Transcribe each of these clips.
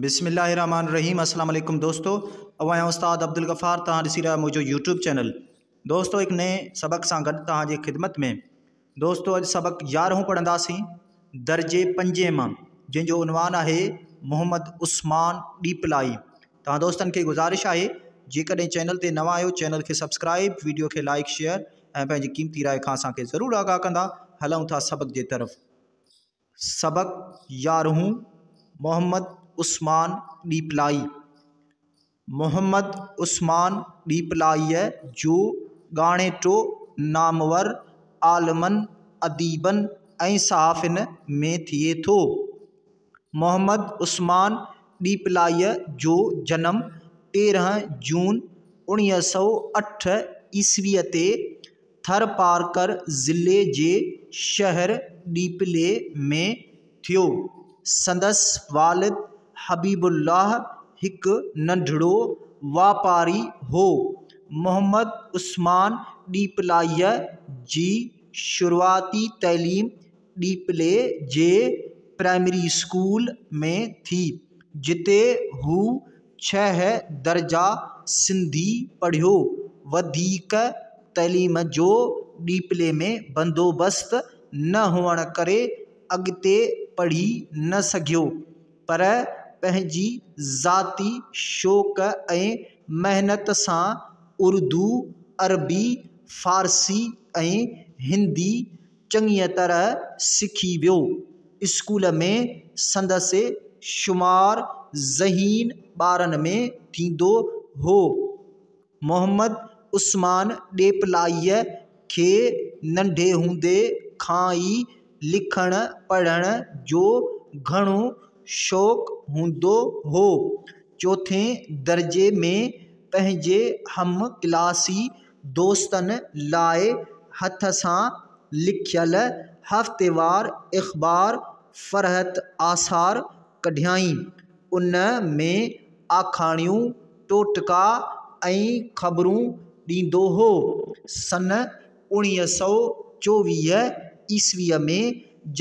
بسم الله الرحمن الرحيم اسلام عليڪم دوستو اوهان آهيان استاد عبدالغفار توهان ڏسي رهيا منهنجو يوٽيوب چينل دوستو هڪ نئين سبق سان گڏ توهان جي خدمت ۾ دوستو اڄ سبق يارهون پڙهنداسين درجي پنجين مان جنهن جو عنوان آهي محمد عثمان ڏيپلائي توهان دوستن کي گذارش آهي جيڪڏهن چينل تي نوان آهيو چينل کي سبسڪرائب ويڊيو کي لائڪ شيئر ۽ پنهنجي قيمتي راء کان اسان کي ضرور آگاهه ڪندا هلون ٿا سبق جي طرف سبق يارهون محمد عثمان ڏيپلائي محمد عثمان ڏيپلائيء جو ڳاڻيٽو نامور عالمن اديبن ۽ صحافين ۾ ٿئي ٿو محمد عثمان ڏيپلائيء جو جنم تيرهن جون اڻيهه سو اٺ عيسويء تي ٿرپارڪر ضلعي جي شهر ڏيپلي ۾ ٿيو. سندس والد حبيب الله هڪ ننڍڙو واپاري هو. محمد عثمان ڏيپلائيء جي شروعاتي تعليم ڏيپلي جي پرائمري اسڪول ۾ ٿي جتي هو ڇهه درجا سنڌي پڙهيو وڌيڪ تعليم جو ڏيپلي ۾ بندوبست نه هئڻ ڪري اڳتي پڙهي نه سگهيو پر پنهنجي ذاتي شوق ۽ محنت سان اردو عربي فارسي ۽ هندي چڱيء طرح سکي ويو. اسڪول ۾ سندس شمار ذهين ٻارن ۾ ٿيندو هو. محمد عثمان ڏيپلائيء کي ننڍي هوندي کان ئي لکڻ پڙهڻ جو گهڻو شوق هوندو هو. چوٿين درجي ۾ پنهنجي هم ڪلاسي دوستن لاء هٿ سان لکيل هفتيوار اخبار فرحت آثار ڪڍيائين. ان ۾ آکاڻيون، ٽوٽڪا ۽ خبرون ڏيندو هو. سن اوڻيهه سؤ چوويهه عيسويء ۾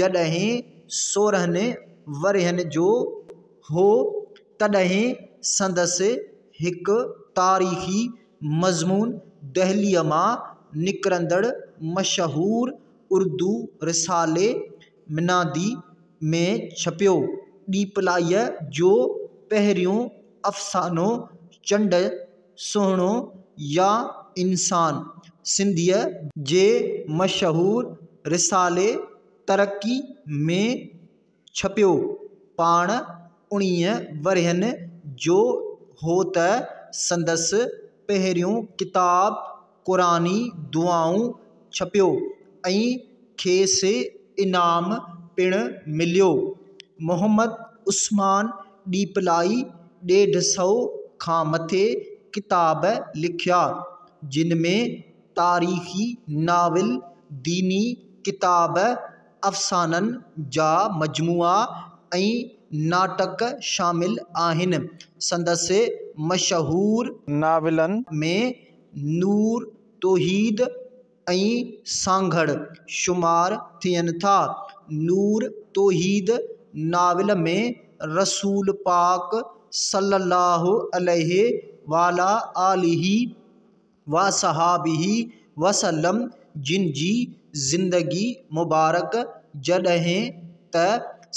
جڏهن سورهن ورهين جو هو، تڏهن سندس هڪ تاريخي مضمون دهليء مان نڪرندڙ مشهور اردو رسالي منادي ۾ ڇپيو. ڏيپلائيء جو پهريون افسانو چنڊ سهڻو يا انسان سنڌيء جي مشهور رسالي ترقي ۾ ڇپيو، پاڻ اڻيهن ورهين جو هو ته سندس پهريون ڪتاب قرآني دعائون ڇپيو ۽ کيس انعام پڻ مليو. محمد عثمان ڏيپلائي ڏيڍ سؤ کان مٿي ڪتاب لکيا، جن ۾ تاريخي ناول، ديني ڪتاب، افسانن جا مجموعا ۽ ناٽڪ شامل آهن. سندس مشهور. ناولن ۾، نور، توحيد ۽ سانگهڙ شمار ٿين ٿا. نور توحيد ناول ۾ رسول پاڪ صلّي اللّٰه عليه وعلٰي آله وصحبه وسلم جن جي زندگي مبارڪ جڏهن ته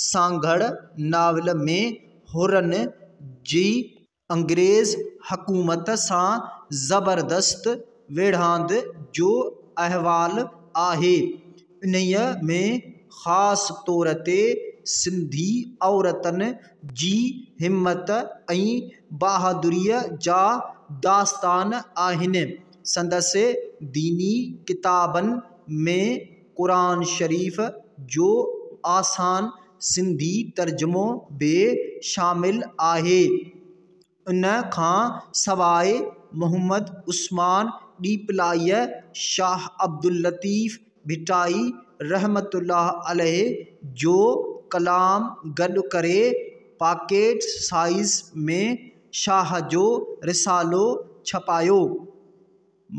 سانگهڙ ناول ۾ حرن جي انگريز حڪومت سان زبردست ويڙهاند جو احوال آهي. انهيء ۾ خاص طور تي سنڌي عورتن جي همت ۽ بهادريء جا داستان آهن. سندس ديني ڪتابن ۾ قرآن شريف جو آسان سنڌي ترجمو به شامل آهي. ان کان سواء محمد عثمان ڏيپلائيء، شاهه عبداللطيف ڀٽائي رحمة الله عليه جو ڪلام گڏ ڪري پاڪيٽ سائيز ۾ شاهه جو رسالو ڇپايو.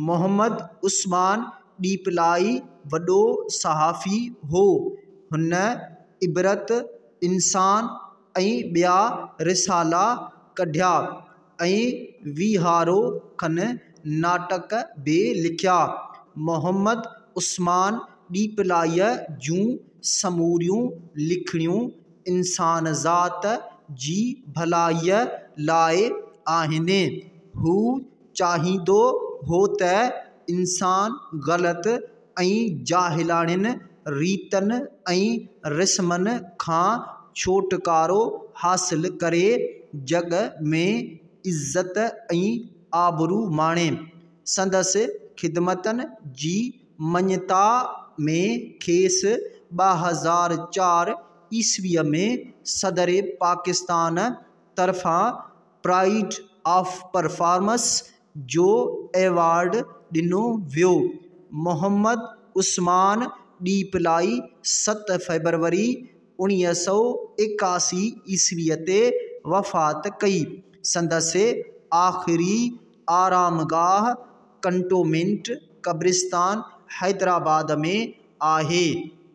محمد عثمان ڏيپلائي وڏو صحافي هو. هن عبرت، انسان ۽ ٻيا رسالا ڪڍيا ۽ ويهارو کن ناٽڪ به لکيا. محمد عثمان ڏيپلائيء جون سموريون لکڻيون انسانذات جي ڀلائيء لاء آهن. هو چاهيندو هو ته انسان غلط ۽ جاهلاڻين ريتن ۽ رسمن کان ڇوٽڪارو حاصل ڪري، جڳ ۾ عزت ۽ آبرو ماڻي. سندس خدمتن جي مڃتا ۾ کيس ٻه هزار چار عيسويء ۾ صدر پاڪستان طرفان پرائيڊ آف پرفارمنس جو ايوارڊ ڏنو ويو محمد عثمان ڏيپلائي ست فيبروري اوڻيهه سؤ ايڪاسي عيسوي تي وفات ڪئي سندس آخري آرام گاهه ڪنٽومينٽ قبرستان حيدرآباد ۾ آهي